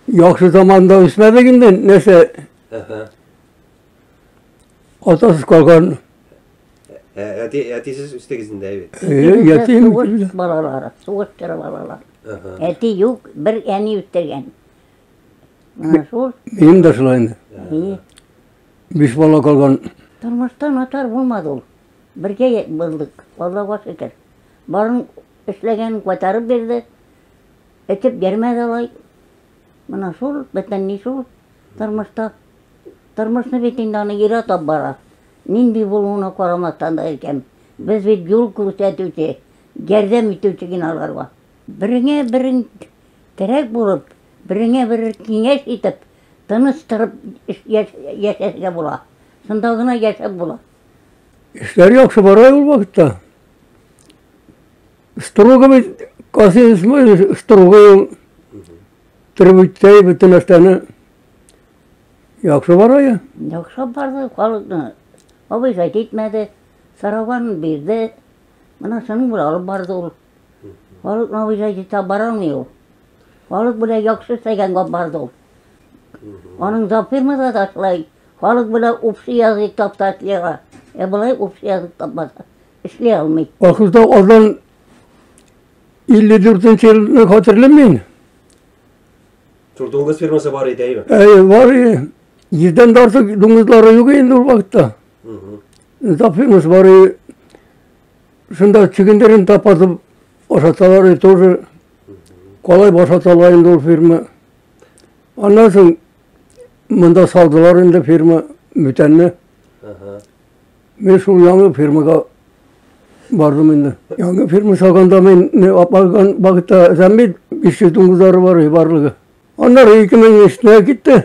Яхшы заманда үсмәдек инде, нәрсә? Әһә. Атасыз калган. Ә, әти, әтисез үстегез инде, әйбәт. Э, Ятим. Сугыш балалары, сугыш чоры балалар. Әһә. Әти юк, бер әни үстергән. Менә шул. Минем дә шулай инде. И, Биш бала калган. Тормышта начар булмады ул. Бергә я- булдык, Аллага шөкер. Барын эшләгәнен кайтарып бирде. Этеп йөрмәде алай. Менә шул, бөтен ни шул тормышта. Тормышны бит инде аны яратып бара. Нинди булуына карамастан да әйткән. Без бит юл күрсәтүче, ярдәм итүче генә аларга. Береңә берең терәк булып, береңә берең киңәш итеп, тыныч торып яшәргә була. Шунда гына яшәп була. Эшләр яхшы бара ул вакытта. Штруга бит касыйс мы штругы требуйтай бөтен нәрсәне яхшы бара я. Яхшы барды, халыкны. Абый гайт итмәде, сараган бирде. Менә шуның белән алып барды ул. Халыкны абый гайт итә бара алмый ул. Халык белән яхшы эшләгәнгә барды ул. Аның да фирмада да шулай. Халык белән общий язык таптатлыга. Ә болай общий язык тапмаса. Эшли алмый. Ахырда алдан 54 елны хәтерлим мин. Турдуңгыз фирмасы бар иде, әйме? Әй, бар иде. Йөздән дә артык дуңгызлары юк инде ул вакытта. Тап фирмасы бар иде. Шунда чөгендерен тапатып ашаталар иде тоже. Калай башаталар инде ул фирма. Аннан соң монда салдылар инде фирма бүтәнне. Мин шул яңа фирмага бардым инде. Яңа фирма салганда мин апарган багта зәмбил 509 ары бар барлыгы. Аннары 2003 китте.